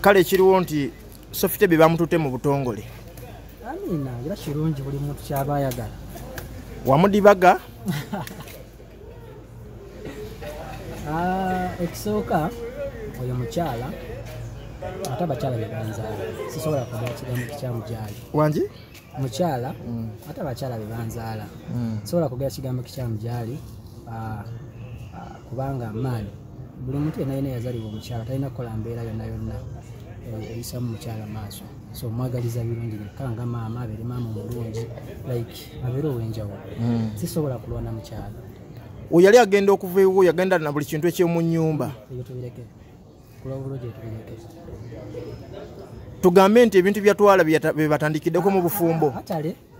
kale ekiriwo nti sofite bye bamutute mu butongole amiina era kirungi buli muntu kyaba ayagala wamudibaga ah, ekisooka oyo mukyala ate abakyala bebanzaala sisobola kumwa ekigambo kikyamujaali wangi mukyala mm. ate abakyala bebanzaala mm. sobola kugera kigambo kikyamu gyali ah, ah, kubanga maani buli muntu yena yena yazalibwa omukyala talina kukola mbeera yonna yonna eh, eyisamu mukyala maaso so mwagaliza birungi byekka nga maama abeere maama omulungi like abeere ow'enjawulo mm. sisobola kulwana mukyala oyo yali agenda okuva ewuwo yagenda na buli kintu ekyomu nyumba tugambe nti ebintu byatwala bebatandikiddeko mu bufumbo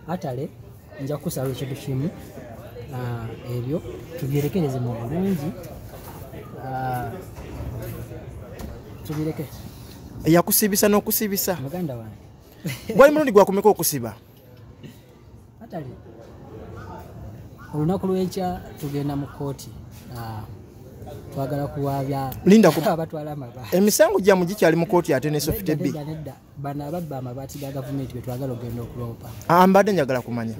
atale nja kukusaba ekintu kimu ah, ebyo tubyerekereze mu bulungi ah, tubireke yakusibisa n'okusibisa muganda wange gwali mulundi gwakumeka okusiba atali olunaku lwenkya tugenda mu kooti ah, twagala kuwabya linda ku abatwala amaba emisango gyamu gikyali mu kooti ate ne sofite bi bano ababba amabaati ga gavumenti be twagala okugenda okuloopa ah, mbadde njagala kumanya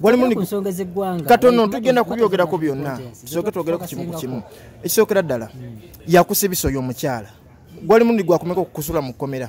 walimunsonga ezeggwanga katono tugenda kubyogerako byonna tusooke twogere ku kimu ku kimu ekisookera ddala hmm. yakusa ebiso y'omukyala gwali mundi gwakumeka okukusula mu kkomera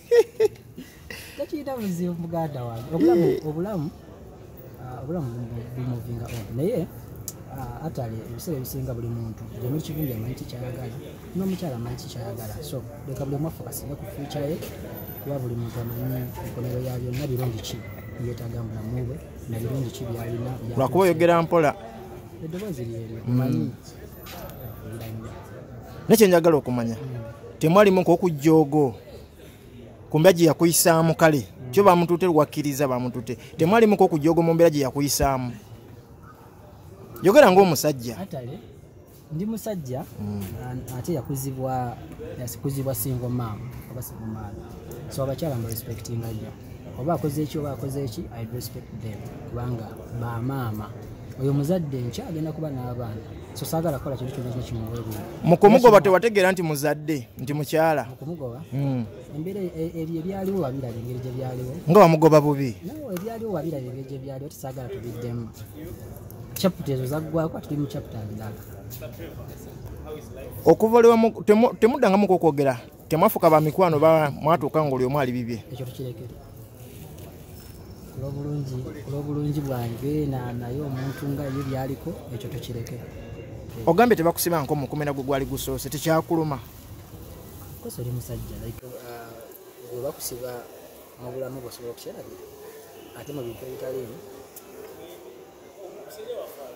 tekiyina buzibu muganda wange obulamu eh. obulamu ah, obulamu bumuvinga on naye ah, atali ebiseera ebisinga buli muntu gyemuli kivumbi amanyi kikyayagala n'omukyala amanyi kikyayagala so leka buli omwaffe kasinga ku fyuca ye kuba buli muntu amanyi enkomero ya byonna birungi ki yetaaga mu bulamu bwe na birungi ki byalina lwakuba oyogera mpola eddoboozi lyeryo manyi mm. naye kyenjagala okumanya temwalimu nkokujjoogo kumbeera gye yakuyisaamu kale kyo bamutute lwakkiriza bamutute temwalimu nkokujjoogo mu mbeera gye yakuyisaamu yogera ngaomusajja ndi musajja mm. ate yakuzibwa yakuzibwa singo maama oba singo maama so abakyala mbarespectinga nyo oba akoze eki oba akoze eki i respect them kubanga bamaama oyo muzadde nkya agenda kuba n'abaana so saagala kukola kintu kyona kino kimuweebula mu kumugoba tewategeera nti muzadde nti mukyala mu kumugoba hmm. embeera e, e, ebyo ebyaliwo wabiraba engeri gye byaliwo nga wamugoba bubi nawe ebyaliwo wabiraba engeri gye byaliwo tisaagala tubiddemu chaputa ezo zaggwako atuli mu chaputa ndala okuva olwamu temuddangamu kwokwogera temwafuka ba mikwano ba mwatuuka nga oli omu ali bibye ekyo tukirekere olwobulungi olwobulungi bwange naye omuntu nga ye byaliko ekyo tukirekere ogambye tebakusiba nko mukumena gwe gwali gusoose tekyakuluma kosa oli musajja like uh, webakusiba mu bulamu bwosobola okukyerabira ate mu bintu ebitaliimu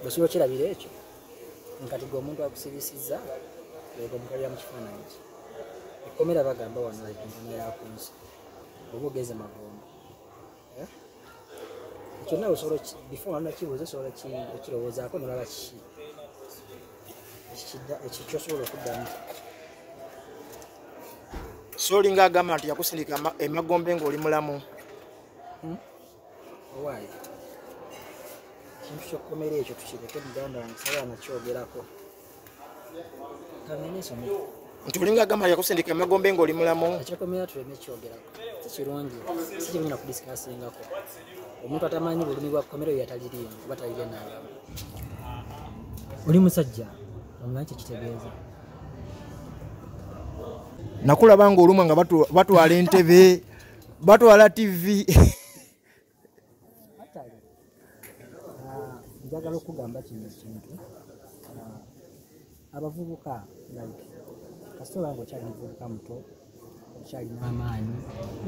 bwosobola okyerabira ekyo nkati gwe omuntu akusibisizza leka omukalira mu kifaananyi ki ekkomera bagamba wano enkomo yakunsi oba ogeze magombo eh? ekyo nawe osobola before wano nakibuuza osobola okirowoozaako nolaba kiki ekyo kyosobola okuddamu soolinga agamba nti yakusindika emagombe ng'oli mulamu hmm? owaaye ekintu kyokkomera ekyo tukireke muganda wange saba nakyogerako kamenesome nti olinga agamba yakusindika emagombe ngaoli mulamu ekyokomera tuleme kyogerako sikirungi sikirungi nakudisikaasingako omuntu atamanyi bulumi bwa kkomera oyo yataliriimu oba talire nalamu oli musajja omanyi kyekitegeeza nakulaba nga olumwa nga batwala entebe batwala tv njagala okugamba kino ekintu abavubuka like kasita oba nga okyali muvubuka muto okyalina amaanyi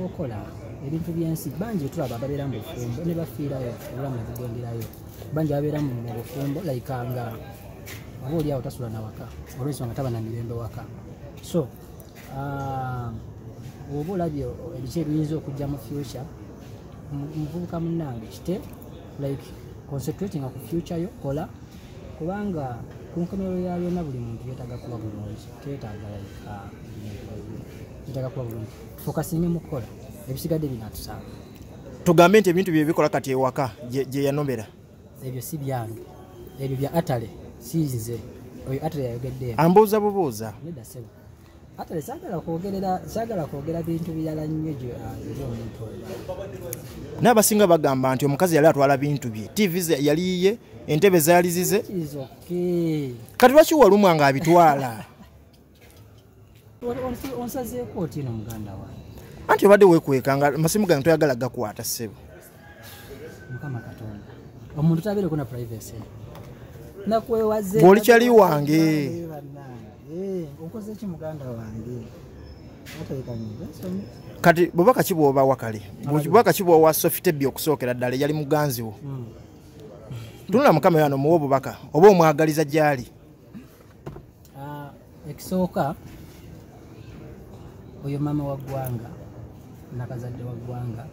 okola ebintu byensi bangi etulaba babeera mu bufumbo ne bafiirayo obulamu nebugenderayo bangi babeera mu bufumbo like nga oba oli awo tasula nawaka olwensonga taba na mirembe waka so ah, oba olabye ebiki ebiyinza okujja mu future muvubuka munange kite like concentrating ku future yo kola kubanga ku nkomerero ya byonna buli muntu yetaga kuba bulungi teyetaaga like ah, yetaga kuba bulungi fokasinge mukukola ebisigadde binatusanga tugambe nti ebintu byebikola kati ewaka gyeyanomera ebyo si byange ebyo bya atale sinze oyo atale yayogedde ambuuza bubuuza neda sebo atale sagala kwogerera sagala kwogera bintu birala nnyo gyo ah, eri omuntu oyo naye abasinga bagamba nti omukazi yali atwala bintu bye tv yali yiye entebe zaali zize kati lwaki walumwa nga abitwala anti obadde wekweka nga masimu gange toyagala gakwata sebo mukama katonda omuntu tabeereko na privacy nakwewaze bwoli kyali wange eh, okozeki muganda wange kati bweba kaki bwoba wakale bweba kaki bwowa sofitebi okusookera ddala eyali muganzi wo hmm. tunula mukama yano muwa obubaka oba omwagaliza gyali Ah, ekisooka oyo maama wa ggwanga nakazadde wa ggwanga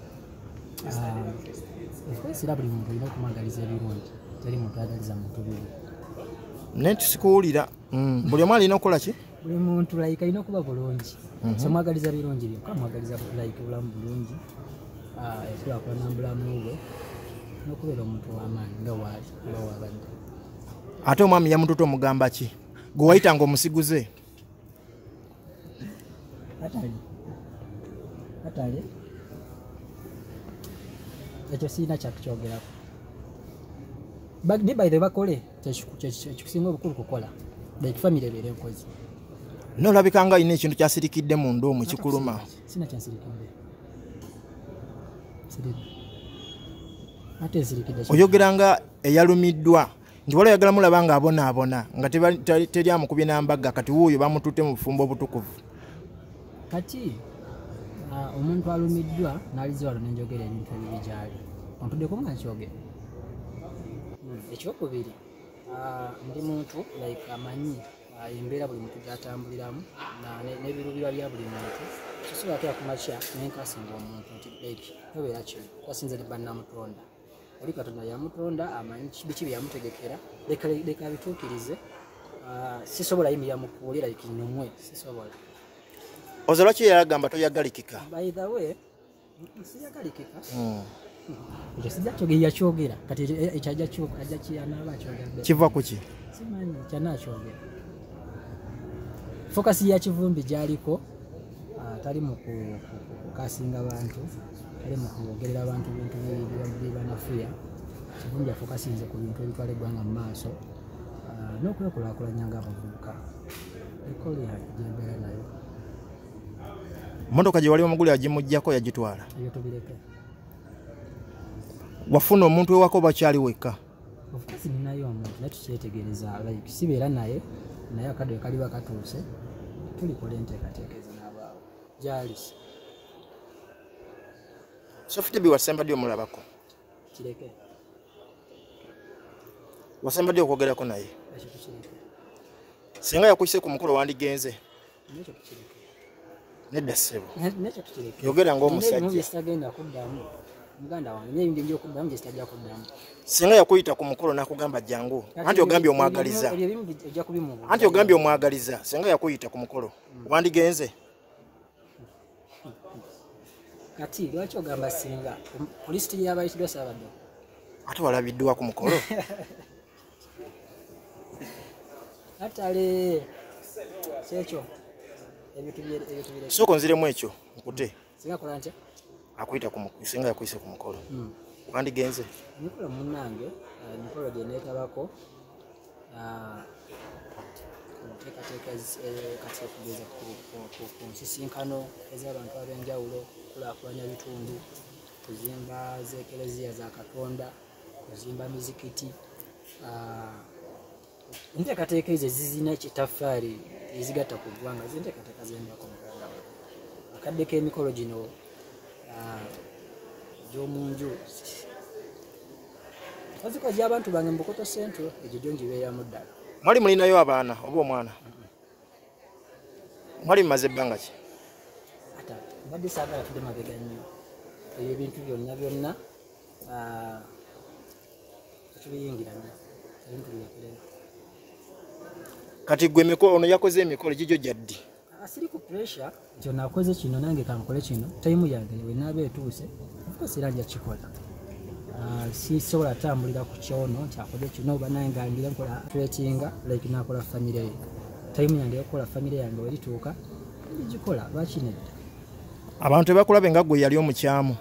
era ah, buli muntu olina okumwagaliza ebirungi teri muntu agaliza muntu bibi naye tusikuwulira mm, buli omu alina okukola ki buli muntu like alina okuba bulungi mhm. somwagaliza birungi byokka mwagaliza like bulamu bulungi ah, ekulakulana mubulamu bwe nokubeera omuntu wamaanyi nga waali oba wabadde ate omwami yamututa omugamba ki gwe wayitanga omusiguze ekyo sirina kyakukyogerako ni baithe bakole kyekikusinga obukulu kukola like famiry ebeera enkozi nolabikanga olina ekintu kyasirikidde mu nda omu kikuluma sina kyasirikidde oyogera nga eyalumiddwa nti waliwo ayagala mulaba nga abonaabona nga teri amukubye nambaga kati wuuyo bamututte mu bufumbo obutukuvu kati omuntu alumiddwa nalize wano nenjogera ebintu ebibi gyali ontuddeko nga nkyogera hmm, ekyokubiri ndi muntu like amanyi embeera buli muntu gyatambuliramu nebiruubirwa bya buli muntu sosobola kera kumakya nenkasinga omuntu nti like tobeera kino kasinze ne bannamutonda oli katonda yamutonda amanyi biki byeyamutegekera leka bituukirize ah, sisobola yimirira mu kkubo lira ikinyumwe sisobola oze lwaki yagamba toyagalikika baithawe siyagalikika hmm. ekyo sijja kyogera yakyogera kati ekyo ajja kyanaaba akyogera kiva ku ki simanyi kyanakyogera fokasi yakivumbi gyaliko ah, tali mu kukasinga bantu tali mu kwogerera abantu bintu bibanafuya kivumbi afokasinze ku bintu ebitwala eggwanga mu maaso ah, n'okwekulakulanya nga abavubuka ekolera gyembeera nayo motoka gye wali omuguli agimugjako yagitwala wafuna omuntu ewako bakyali wekka of course ninayo omuntu naye tukyetegereza like sibeera naye naye akadde kaliba katuuse tulikola enteekateeka ezo n'abaawo jalis sofitebi wasemba ddi omulabako kireke wasemba ddi okwogerako naye singa yakuyise ku mukolo wandigenze nedda ssebo yogera ngaomusajjatagenda kuddamu muganda wange naye ngenja okuddamu gyesitajja kuddamu singa yakuyita ku mukolo nakugamba jangu anti ogambye omwagaliza anti ogambye omwagaliza singa yakuyita ku mukolo hmm. wandigenze kati lwaki ogamba singa kulisiti yabayitidwa sabadde ate walabiddwa ku mukolo atale kyekyo sooka onziremu ekyo nkute akuyita singa yakuyise ku mukolo hmm. wandigenze emikolo munange eh, emikolo gyenetabako ah, enteekateeka eh, kati okugeza ku nsisinkano ez'abantu ab'enjawulo kulakulanya bitundu kuzimba z'ekereziya za katonda kuzimba mizikiti ah, enteekateeka ezo ezizina ekitaffaali ezigatta ku ggwanga zinteekateeka zembako muganda wa akadde k'emikolo gino ah, gy'omu nju oziko gy'abantu bange mubukoto centro egyo gyo ngibeeramu ddala mwali mulinayo abaana oba omwana mwali mumaze ebbanga ki ata mbadde saagala tudde mabega nnyo ebyo ebintu byonna byonna ah, kati gwe emikolo ono yakoze emikolo gigyo gyaddi ah, siri ku pressure nti ono akoze kino nange kankole kino tayimu yange wenaaba etuuse ofcourse era nja kikola ah, sisobola atambulira ku kyono nti akoze kino oba naye ngangire nkola tretinga like nakola famire ye tayimu yange yokukola famire yange werituuka gikola lwaki nedda abantu tebakulabe nga gwe yali omukyamu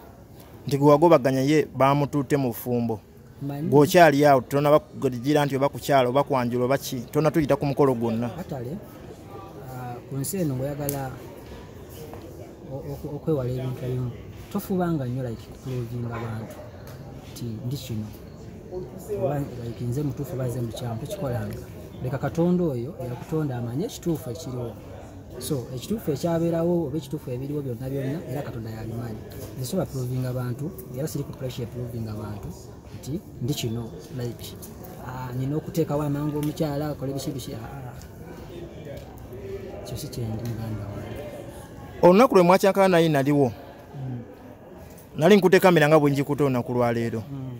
nti gwe wagobaganya ye baamutuute mu bufumbo gweokyali awo tona bakugira nti oba kukyalo oba kwanjula oba ki tona tuyita ku mukolo gwonna ah, ku nsi eno ngaoyagala okwewala ebintu ebimu tofubanga nnyo like kutulovinga abantu nti ndi kino like nze mutuufu baze mukyamu tokikolanga leka katonda oyo eyakutonda amanye ekituufu ekiriwo so ekituufu ekyabeerawo oba ekituufu ebiriwo byonna byonna era katonda yabimanyi nsobola provinga bantu era siri ku pressure provinga bantu nti ndi kino like ah, nina okuteekawo amangu omukyala akole biki biki ah, ah. kyo si kyendi muganda wa olunaku lwe mwakyankala naye naliwo hmm. nali nkutekamira nga bwenjikuta olunaku lwaleero hmm.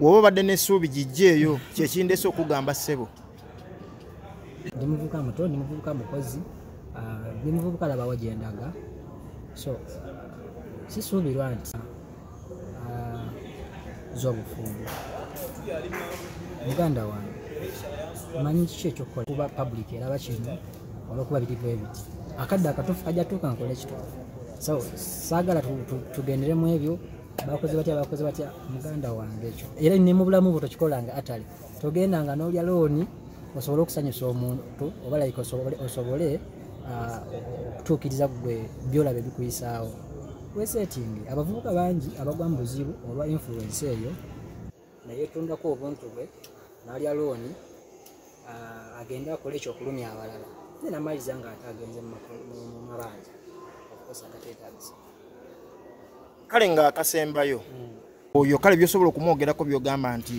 woba obadde nesuubi gijjeeyo kyekindese okugamba ssebo ndi muvubuka muto ndi muvubuka mukozi ah, ndi muvubuka labawo gyendaga so sisuubirwa nti ah, zobufumbo muganda wange manyi kiki ekyokukola kuba public eraba kino olwokuba biri bwe biti akadde akatuufu kajja tuuka nkola ekituufu so saagala tugendere mu ebyo bakoze batya bakoze batya muganda wange ekyo era ne mu bulamu bwo tokikolanga atali togenda nga n'olya looni osobole okusanyusa omuntu oba like osobole osobole ah, okutuukiriza gwe byolaba ebikuyisaawo wesetingi abavubuka bangi abagwa mu buzibu olwa influensi eyo ne yeetundako obuntu bwe n'alya looni agende akole ekyokulumya abalala ye namaliriza nga ate agenze mu mabanja okukosa agateetagisa kale nga akasembayo hmm. oyo kale byosobola okumwogerako byogamba nti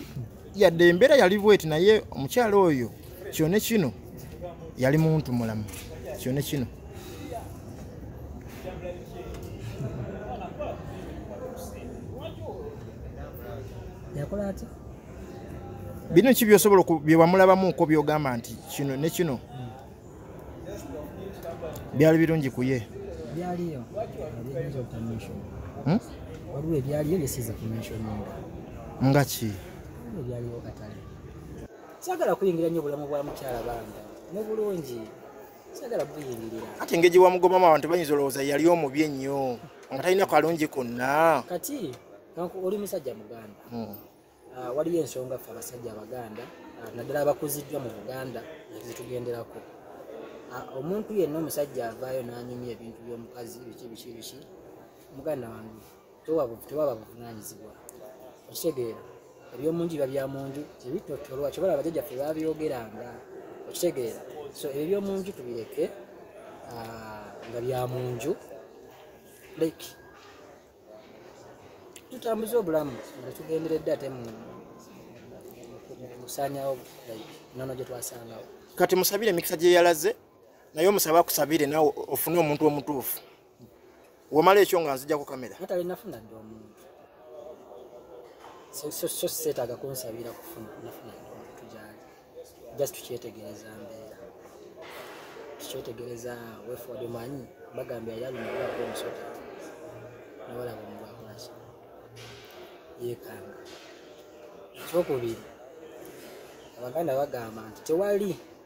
yadde embeera yali bweti naye omukyala oyo kyone kino yali muntu mulamu kyone kino bino ki byosobola byewamulabamuko byogamba nti kino ne kino hmm. byali birungi kuye byaliyo hmm? waliwo ebyaliyo byesiza kumensioninga nga ki ebyaliwo katale sagala kuyingira nnyo bulamu bwa mukyala banga mubulungi sagala buyingirira ati engeri gyewamugobamu abantu bayinza olowooza yali omubi ennyo nga talina kalungi konna kati oli musajja muganda hmm. ah, waliyo ensonga ffe abasajja abaganda ah, naddala abakuziddwa mu buganda zetugenderako ah, omuntu yenna omusajja avaayo n'anyumya ebintu by'omukazi biki biki biki muganda wange tewaba buvunanyizibwa okitegeera ebyomunju biba bya munju tebitotolwa kyobola abajaja fe babyogeranga okitegeera so ebyo byomunju tubireke ah, nga bya munju like tutambuze obulamu nga tugenderedde ate musanyawo nono gyetwasangawo kati musabire emikisa gyeyalaze naye omusaba akusabire nawe ofune omuntu omutuufu wamala ekyo nga nzijako kamera natale nafuna dde omuntu so seetaaga kunsabira kufuna nafuna dde omuntu gyali just tukyetegereza mbeera tukyetegereza weford manyi bagamba yali alumibwako omusota nabalaba omubwakulaki yekanga ekyokubiri abaganda bagamba nti tewali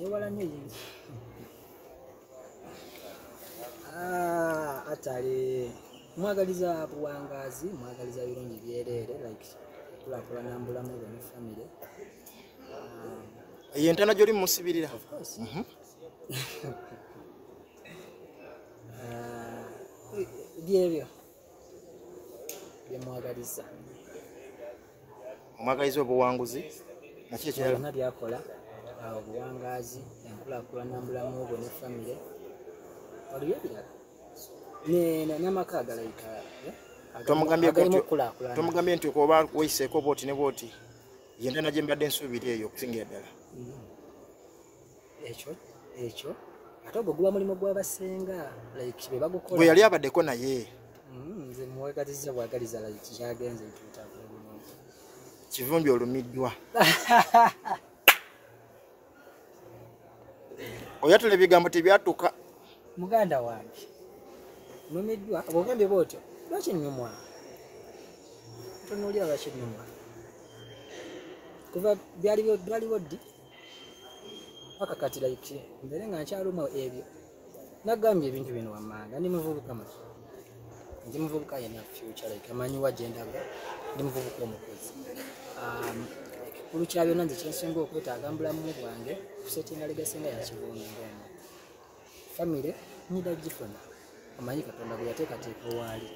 yewala nnyo yesu atale mwagaliza buwangazi mwagaliza birungi byereere like kulakulana mbulamu bwe ne famire eyo entana gyoli mumusibirira mhm. byebyo byemwagaliza omwagaliza obuwanguzi nakyona byakola obuwangazi enkulakulana mubulamu bwe ne famire waliyo ebirala namaka agalayika eh? tomugambye nti oba weyiseeko bwoti ne bwoti yendana gyembadde nsuubira eyo okusingira ddala mm-hmm. ekyo ekyo ate ogwo guba mulimu gwabasenga like bebagukola gwe yali abaddeko naye mm, nze muwagaliza bwagaliza like kyagenze ntutabulungi kivumbi olumiddwa oyatula ebigambo tebyatuka muganda wange numiddwa bwogambye bwotyo lwaki nnumwa tonoolya lwaki nnumwa kuva byaliwo ddi paka kati like mbere nga nkyaluma ebyo nagambye ebintu bino wammanga ndi muvubuka maki ndi muvubuka yena future like amanyi wa gyendaga ndi muvubuka omukozi um, ekikulu kya byonna nze kyensinga okwetaaga mbulamu bwange kusetinga legasinga yakivunga omu famire nyida gifuna omanyi katonda bwe yateekateeka owaali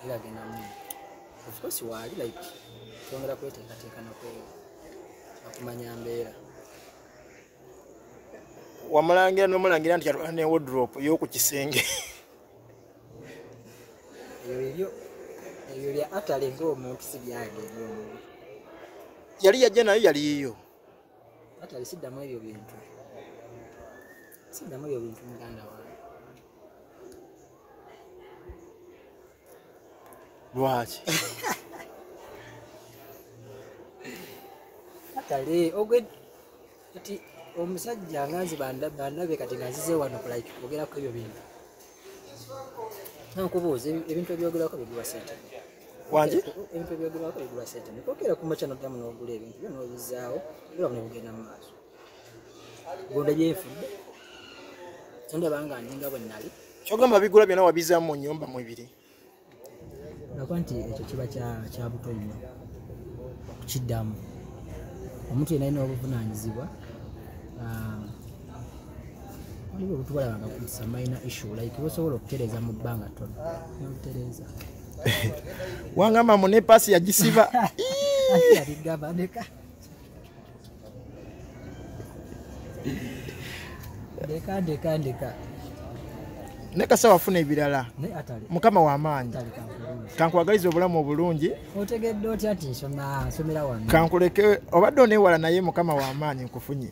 era agenda mu ofcourse waali like twongera kweteekateeka nakweyo akumanya mbeera wamulangira nomulangira nti yatwala ne wodrop yoku kisenge ebyo ebyo bya atale ngaomuntu sibyageomuntu yali yajja nayo yaliyiyo Hata alisiddamu ebyo bintu siddamu ebyo bintu muganda wange lwaki atale ogwe kati omusajja nganzi bandabe kati nganzize wano kulike kwogera ku ebyo bintu nankubuuza ebintu ebyogerako bigula sente wangi ebintu ebyogerako bigula sente nekokera kumakya noddamu nogula ebintu byo nobizaawo era nebugenda mu maaso gonda gyenfudde tondabanga ndinga bwe nali kyogamba bigula byona wabizaamu mu nyumba mwebiri nakuba nti ekyo kiba kya buto nnyo okukiddamu omuntu yena alina obuvunaanyizibwa ah, waliwo obutubalabanga kusa mayina issue like bosobola okutereeza mu bbanga tono nobutereeza wangamba mu nepasi yagisiba ndeka ndeka ndeka naye kasawa afuna ebirala mukama wamaanyi kankwagaliza obulamu obulungi otegedde otya ti nsomera wano kankuleke obadde onewala naye mukama wamaanyi nkufunye